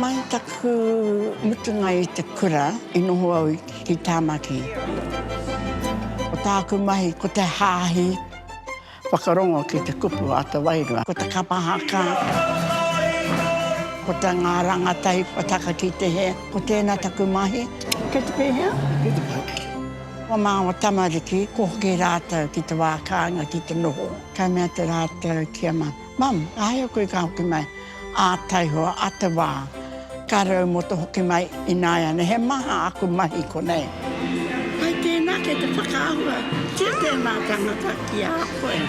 Mai taku mutunga i te kura i noho au ki Tāmaki. Ko tāku mahi ko te hāhi whakarongo ki te kupu a te wairua. Ko te kapa haka, ko te ngā rāngatai whataka ki te hē. Ko tēnā taku mahi. Kei te pēhea? Kei te pai. Kua māua tamariki, kua hoki rātou ki te wā kāinga ki te noho. Ka mea te rātou ki a mum, Mum, āhea koe ka hoki mai ā taihoa, ā te wā, ka rau mō te hoki mai ināiane, he maha aku mahi konei. Hai tēnā kei te whakaahua ki tēnā tangata ki a koe.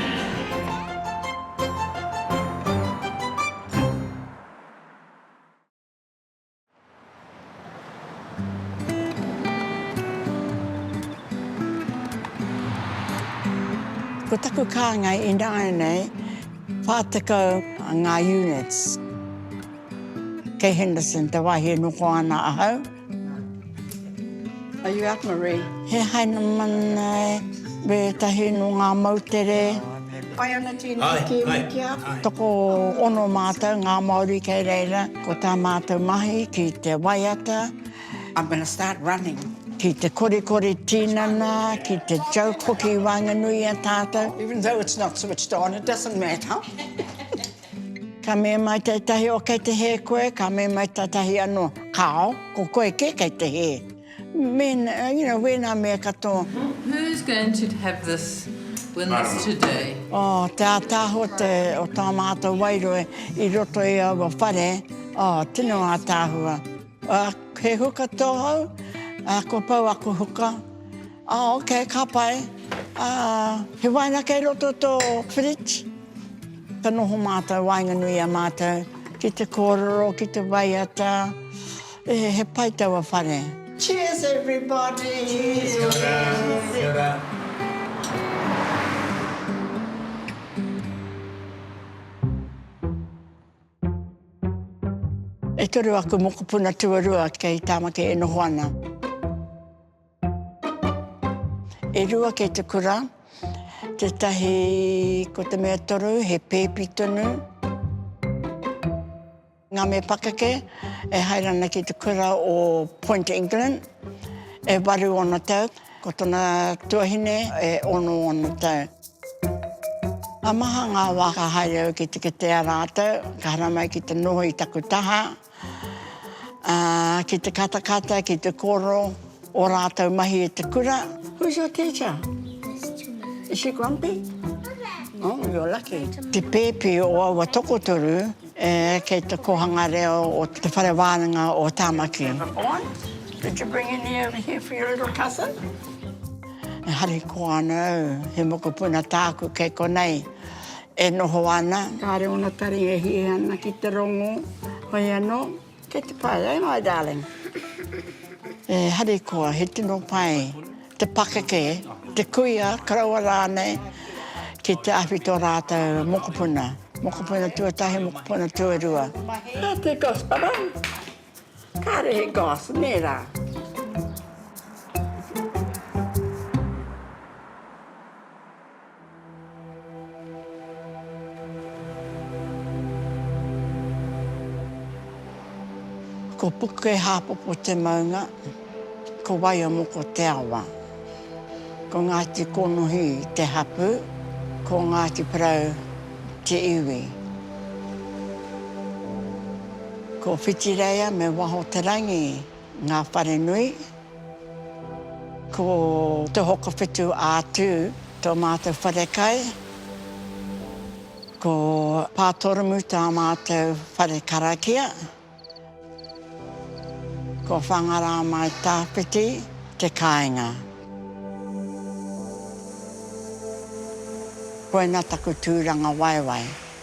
Ko taku kāngai ināianei, 40 ngā units. Kei Henderson te wāhi e noho ana ahau. Are you up Marie? He Heinemana e, me etahi no nga moutere. Hai ana tena ki Wikia. Toko ono matou nga Maori kei reira ko ta matou mahi ki te waiata. I'm gonna start running. Ki te korikori tinana, ki te joke hoki i wanganui i a tatou. Even though it's not switched on, it doesn't matter. Ka mema tetahi o kei te he koe, ka mema tetahi ano kao, ko koe ke kei te he. Men, you know, wena me ka to. Who's going to have this win this today? Oh, te ataho te o ta matou wairua i roto i aua whare, oh, tino atahua. He huka tohou, a ko pau aku huka. Ah ok, ka pai. Ah, he waina kei roto i to fridge. Ka noho matou waenganui i a matou ki te kororo, ki te waiata. Eh, he pai taua whare. Cheers everybody! Cheers! Kia ora! Kia ora! E toru aku mokopuna tuarua kei Tamaki e noho ana. E rua kei te kura, tētahi ko te mea toru he pēpi tonu. Ngā mea pakeke e haere ana ki te kura o Point England, e waru ōna tau, ko tōna tuahine e ono ōna tau. Ka maha ngā wā ka haere au ki te kitea rātou, ka haramai ki te noho i taku taha. Ā, ki te katakata, ki te kōrero ō rātou mahi i te kura. Who's your teacher? Miss Julie. Is she grumpy? Oh, you're lucky. Te pēpi o aua tokotoru kei te kōhanga reo o te whare wānanga o Tāmaki. Did you bring any over here for your little cousin? Harikoa anō, he mokopuna tāku kei konei. E noho ana. Kāre ōna taringa e hia ana ki te rongo, hoi anō, kei te pai, ai mai darling. E harikoa, he tino pai te pakeke, te kuia, koroua rānei ki te awhi tō rātou mokopuna, mokopuna tuatahi, mokopuna tuarua. Nā te goss ba rau. Kāre he goss, nē rā. Ko Pukehāpopo te maunga, ko Waiomoko te awa. Ko Ngāti Konohi te hapū, ko Ngāti Porou te iwi. Ko Whitireia me Waho-te-rangi Ngā wharenui, ko Te Hokowhitu a Tū tō mātou wharekai, ko Pātoromu tā mātou whare karakia, ko Whangarāmaitāwhiti te kāinga. Koina taku tūrangawaewae.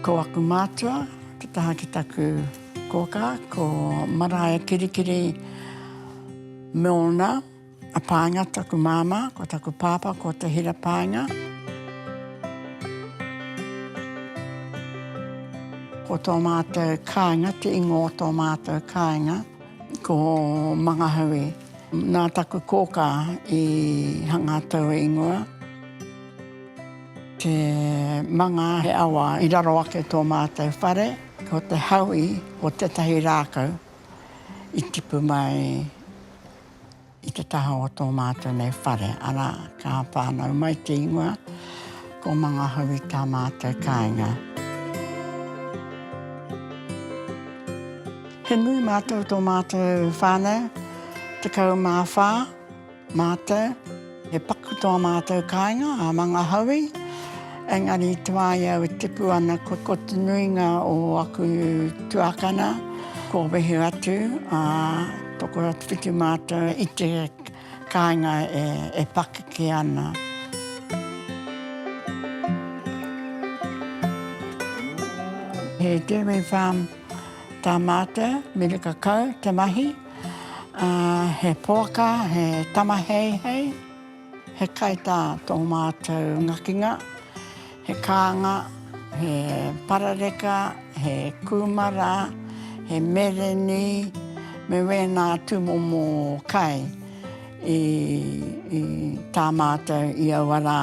Ko aku mātua te taha ki taku kōkā, ko Maraea Kirikiri Milner, a Pāenga taku māmā, ko taku pāpā ko Te Hira Pāenga. Ko tō mātou kāinga, te ingoa o tō mātou kāinga, ko Mangahaue. Nā taku kōkā i hanga taua ingoa, te manga he awa i raro ake tō mātou whare, ko te haui o tētahi rākau i tipu mai i te taha o tō mātou nei whare, arā, ka whānau mai te ingoa, ko Mangahaui tā mātou kāinga. He nui mātou tō mātou whānau, 14 mātou, he paku tō mātou kāinga a Mangahaui, engari i te wā i au e tipu ana ko te nuinga o aku tuākana kua wehe atu, ā, tokoro atu ki mātou i te kāinga e pakeke ana. He dairy farm. tā mātou miri kakau te mahi, ā, he poaka, he tamaheihei, he kaitā tō mātou ngakinga, he kānga, he parareka, he kūmara, he mereni, me wēnā tūmomo kai i, i tā mātou i aua rā.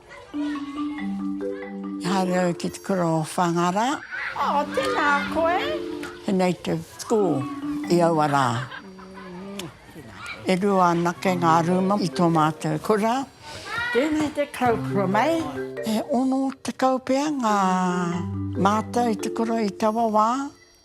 Haere au ki te kura o Whangara. Oh, tēnā koe. He native school i aua rā. E rua anake ngā rūma i tō mātou kura. Tēnei te kau kura mai. E ono tekau pea ngā mātou i te kura i taua wā.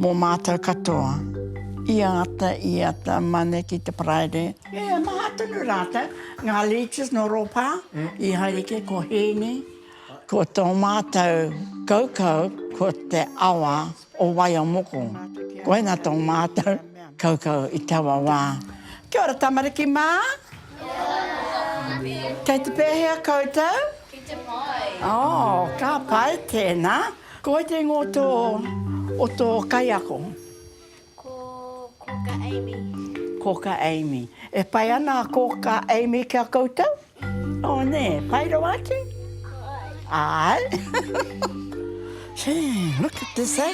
Mō mātou katoa. I āta, i āta mane ki te Paraire. E maha tonu rātou, ngā leeches nō Rōpā, i haere kē ko Hēni, ko tō mātou kaukau ko te awa o Waiomoko. Koina tō mātou kaukau i taua wā. Kia ora tamariki mā! Kia ora Tamahi! Kei te pēhea koutou? Ki te pai! Oh, ka pai, tēnā. Ko wai te ingoa o tō, o tō kaiako? Ko Kōkā Amy. Kōkā Amy. E pai ana a Kōkā Amy ki a koutou? Ō nē, pai rawa atu? Āe. Gee, look at this, eh?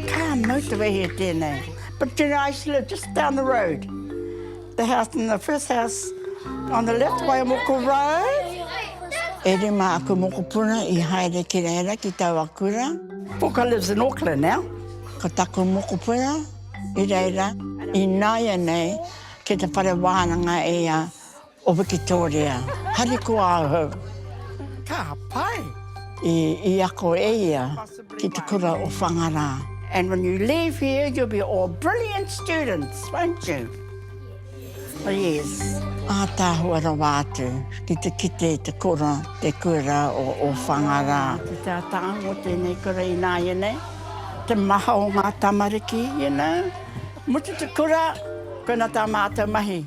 Ka motivate e tēnei. But you know, I used to live just down the road. The house in the first house on the left by Moko Road. E rima aku mokopuna i haere ki reira ki taua kura. Puka lives in Auckland now. Ko taku mokopuna i reira ināianei ki te whare wānanga e ia o Wikitōria. Harikoa ahau. Ka pai! I ako e ia. Ki te kura o Whangarā. And when you leave here you'll be all brilliant students, won't you? Oh yes. Ātaahua rawa atu ki te kite te kura, te kura o Whangarā. Te tātāhu o tēnei kura ināianei, te maha o ngā tamariki, you know. Mutu te kura, koina tā mātou mahi.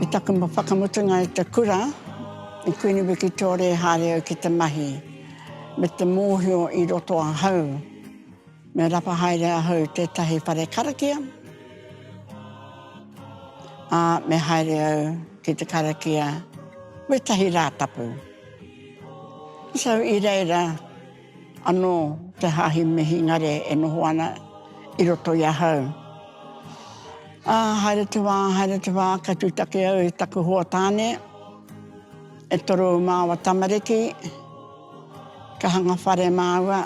Me taku whakamutunga i te kura, i Kuini Wikitōria e haere au ki te mahi, me te mōhio i roto ahau, me rapa haere ahau i tētahi whare karakia, ā, me haere au ki te karakia wētahi Rātapu. So, i reira, Anō te hāhi Mihingare e noho ana i roto i ahau. Ā, haere te wā, haere te wā, ka tūtaki au i taku hoa tāne, e toru māua tamariki, ka hanga whare māua,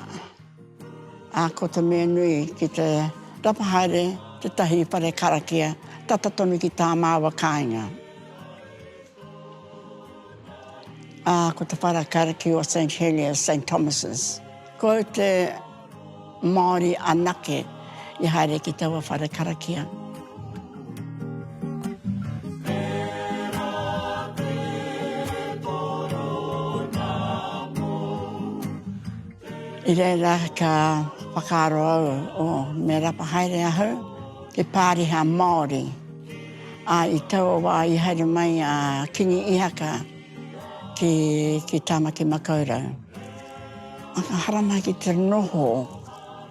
ā, ko te mea nui ki te rapa haere tētahi whare karakia tata tonu ki tā māua kāinga. Ā, ko te whara kariki o Saint Heliers, Saint Thomas's. Ko te Māori anake i haere ki taua whara karakia. I reira ka whakaaro au, oh, me rapa haere ahau, he pāriha Māori. Ā, i taua wā i haere mai a Kīngi Īhaka ki, ki Tāmaki-makau-rau. Ā, ka haramai ki te noho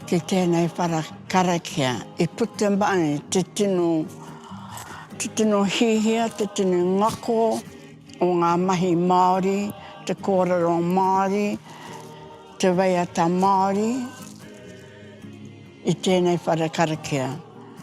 ki tēnei whara karakia, i puta mai te tino, te tino hiahia, te tino ngako o ngā mahi Māori, te kōrero Māori, te waiata Māori i tēnei whara karakia.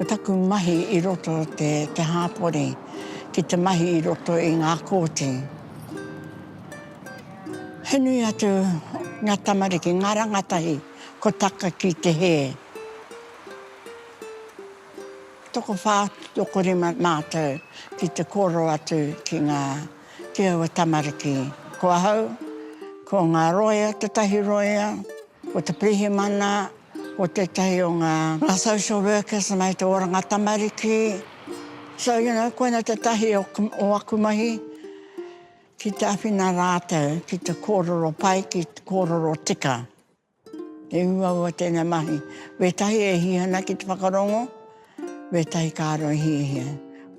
Ko taku mahi i roto o te te hāpori ki te mahi i roto i ngā kōti. He nui atu ngā tamariki, ngā rangatahi ko taka ki te hē. Tokowhā, tokorima mātou ki te kōrero atu ki ngā. ki aua tamariki. Ko ahau, ko ngā roea, tētahi roea, ko te pirihimana, ko tētahi o ngā social workers mai te oranga tamariki. So, you know, koina tētahi o, o aku mahi, ki te awhina rātou ki te kōrero pai, ki te kōrero tika. E uaua tēnei mahi, wētahi e hia ana ki te whakarongo, wētahi kāro e hiahia.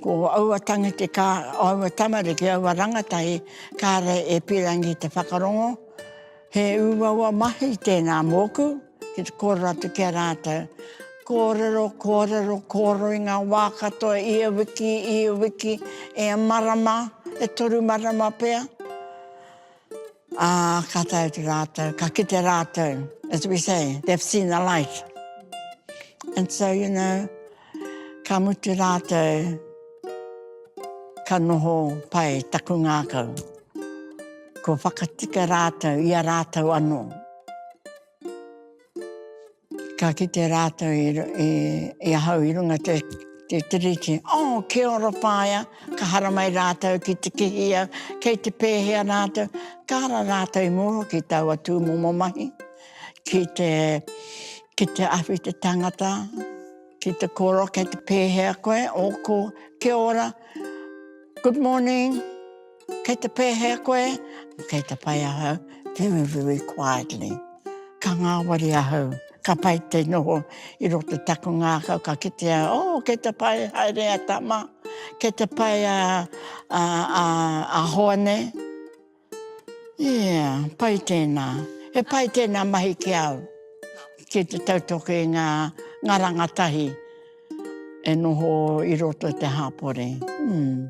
Ko aua tangiti, kā, aua tamariki, aua rangatahi, kāre e pīrangi i te whakarongo. He uaua mahi tēnā mōku, ki te kōrero atu ki a rātou. Kōrero, kōrero, kōrero i ngā wā katoa, ia wiki, ia wiki, e marama, e toru marama pea. Ā, ka tae atu rātou, ka kite rātou, as we say, they've seen the light. And so, you know, ka mutu rātou, ka noho pai taku ngākau. Kua whakatika rātou i a rātou anō. Ka kite rātou i, i, i ahau i runga te, te tiriti. Oh, kia ora whaea, ka haramai rātou ki te kihia kei te pēhea rātou. Ka ara rātou i mua ki taua tūmomo mahi, ki te, ki te awhi te tangata, ki te koro kei te pēhea koe, ōku, kia ora, good morning. Kei te pēhea koe? Kei te pai ahau, very, very quietly. Ka ngāwari ahau, ka pai te noho i roto taku ngākau, ka kitea, oh, kei te pai, haere a Tama, kei te pai a, a, a, a Hoane. Yeah, pai tēnā. He pai tēnā mahi ki au, ki te tautoke i ngā, ngā rangatahi e noho i roto i te hapori. Hmm.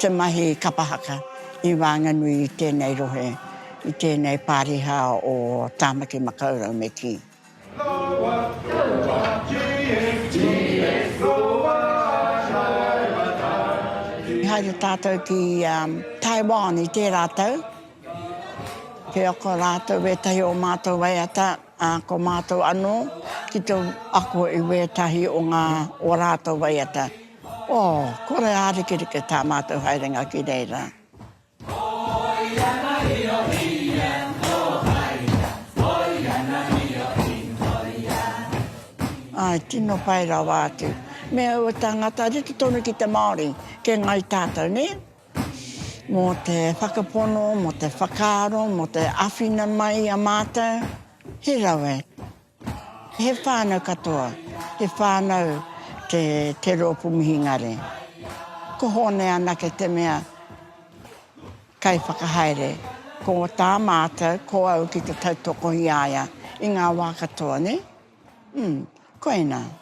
Te mahi kapa haka i waenganui i tēnei rohe, i tēnei pāriha o Tāmaki Makaurau me kī. Loa, loa, GSGS, loa ai ngā tāne. I haere tātou ki Taiwan i tērā tau. He ako rātou ētahi o mātou waiata, ā, ko mātou anō ki te ako i wētahi o ngā o rātou waiata. Oh, kore ārikerike tā mātou haerenga ki reira. Ai, tino pai rawa atu. Me aua tāngata rite tonu ki te Māori, ke ngai tātou, nē? Mō te whakapono, mō te whakaaro, mō te awhina mai a mātou, he rawe. He whānau katoa, he whānau te Te Roopu Mihingare. Ko Hōne anake te mea kaiwhakahaere, ko tā mātou, ko au ki te tautoko i a ia i ngā wā katoa, nē? Ū, koinā.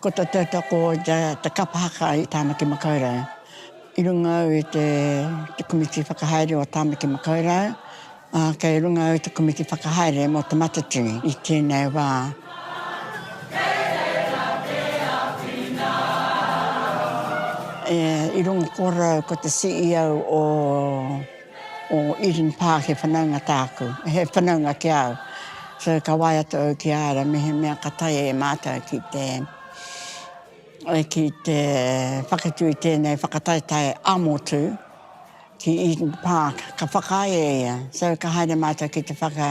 Ko te tautoko o te kapa haka i Tāmaki Makaurau i runga au i te komiti whakahaere o Tāmaki Makaurau, ā, kei runga au i te komiti whakahaere mō Te Matatini i tēnei wā. E, i runga kōrau ko te CEO o. O Eden Park he whanaunga tāku, he whanaunga ki a au. So ka wae atu au ki a ara mehemea ka tae e mātou ki te, ki te whakatū i tēnei whakataetae a motu ki Eden Park, ka whakaae e ia. So ka haere mātou ki te whaka.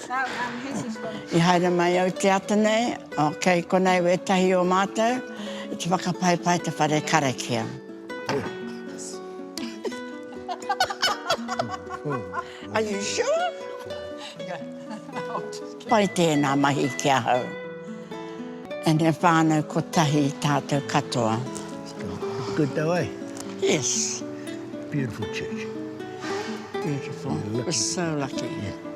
I haere mai au te ata nei, ok, konei wētahi o mātou i te whakapaipai i te whare karakia. Are you sure? Pai tēnā mahi ki ahau. And he whānau kotahi tātou katoa. Good though, eh? Yes. Beautiful church. Beautiful. We're so lucky. Yeah.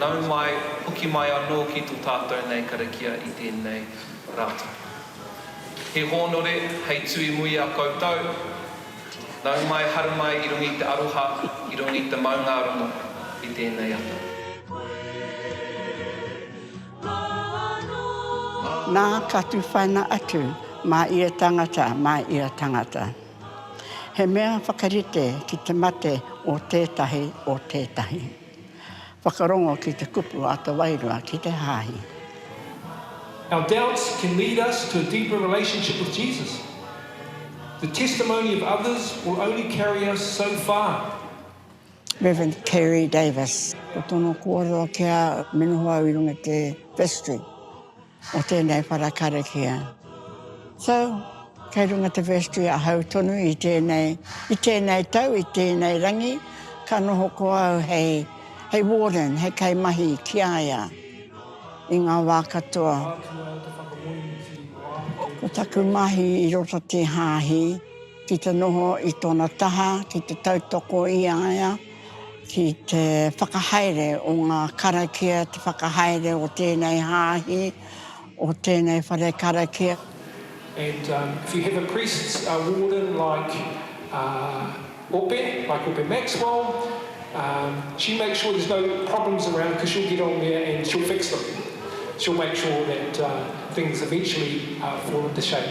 Nau mai, hoki mai anō ki tō tātou nei karakia i tēnei rā tapu. He hōnore hei tū i muri a koutou, nau mai, haru mai i runga i te aroha, i runga i te maungārongo i tēnei ata. Nā, ka tūwhaina atu mā ia tangata, mā ia tangata. He mea whakarite ki te mate o tētahi, o tētahi. Whakarongo ki te kupu a te Wairua ki te Hāhi. Our doubts can lead us to a deeper relationship with Jesus. The testimony of others will only carry us so far. Rev. Kerry Davis. Ko tōna kōrero kia me noho au i runga i te vestry o tēnei whara karakia. So, kei runga te vestry ahau tonu i tēnei, i tēnei tau, i tēnei rangi, ka noho ko au hei, hei warden, hei kaimahi ki a ia i ngā wā katoa. Ko taku mahi i roto te hāhi, Ki te noho i tōna taha ki te tautoko i a ia ki te whakahaere o ngā karakia, te whakahaere o tēnei hāhi, o tēnei whare karakia. And um, if you have a priest uh, warden like uh, Ope, like Ope Maxwell, um, she makes sure there's no problems around because she'll get on there and she'll fix them. She'll make sure that uh, things eventually uh, fall into shape.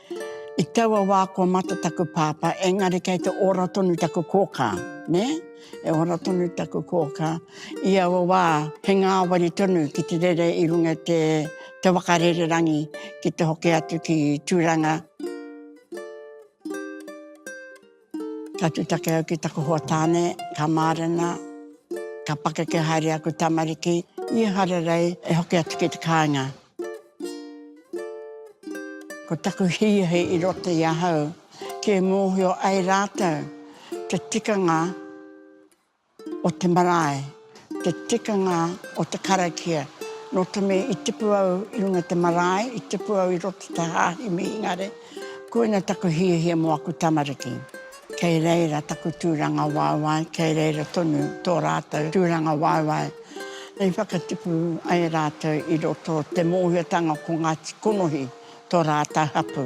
I taua wā kua mate taku pāpā, engari kei te ora tonu taku kōkā, nē? E ora tonu taku kōkā. I aua wā, he ngāwari tonu ki te rere i runga i te, te waka rererangi ki te hoki atu ki Tūranga. Ka tutake au ki taku hoa tāne, ka mārena, ka pakeke haere aku tamariki, i Hararei, e hoki atu ki te kāinga. Ko taku hīahi i roto i ahau, kia mōhio ai rātou te tikanga o te marae, te tikanga o te karakia. Nō te mea i tipu au i runga te marae, i tipu au i roto te hāhi Mihingare, koina taku hiahia mō aku tamariki. Kei reira taku tūrangawaewae, kei reira tonu tō rātou tūrangawaewae i whakatipu ai rātou i roto te mōhiotanga ko Ngāti Konohi tō rātou hapū.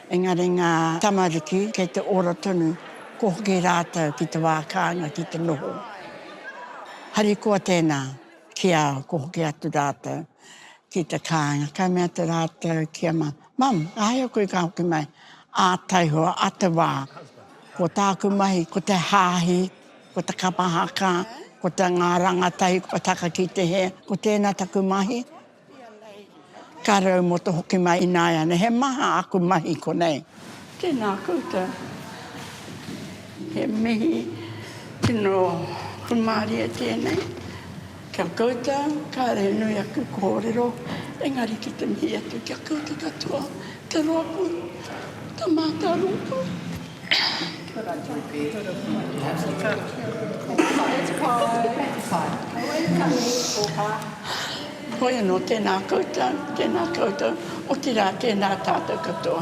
Engari ngā tamariki kei te ora tonu, kua hoki rātou ki te wā kāinga ki te noho. Harikoa tēnā ki a au, kua hoki atu rātou ki te kāinga, ka mea atu rātou ki a Mum, Mum, āhea koe ka hoki mai ā taihoa, ā te wā. Ko tāku mahi, ko te hāhi, ko te kapa haka, ko te ngā rangatahi kua taka ki te hē, ko tēnā taku mahi, Ka rau mo to hoki mai inaeane he maha aku mahi konei. Tēnā koutou. He mihi tino hūmārie tēnei ki a koutou. Kāore he nui aku kōrero, engari ki te mihi atu ki a koutou katoa. Te Rōpū Tamaata Rōpū Hoi anō, tēnā koutou, tēnā koutou, otirā tēnā tātou katoa.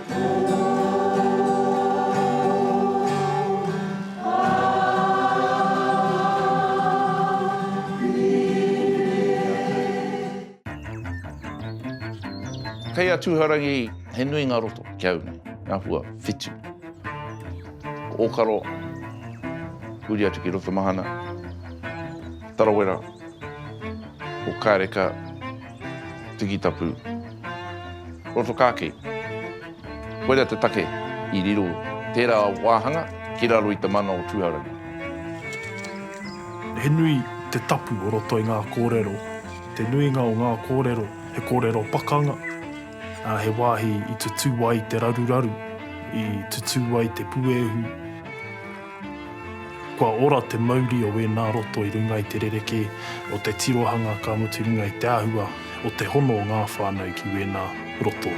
Kei a Tūharangi he nui ngā roto ki a au nei, ngā hua whitu. Ko Ōkaro, huri atu ki Rotomahana, Tarawera, ko Kāreka, Tikitapu. Rotokāke. Koirā te take i riro tērā wāhanga ki raro i te mana o Tūhourangi. He nui te tapu o roto i ngā kōrero. Te nuinga o ngā kōrero he kōrero pakanga, ā, he wāhi i tutū ai te raruraru, i tutū ai te puehu. Kua ora te mauri o wēnā roto i runga i te rerekē o te tirohanga ka mutu i runga i te āhua o te hono o ngā whānau ki wēnā roto.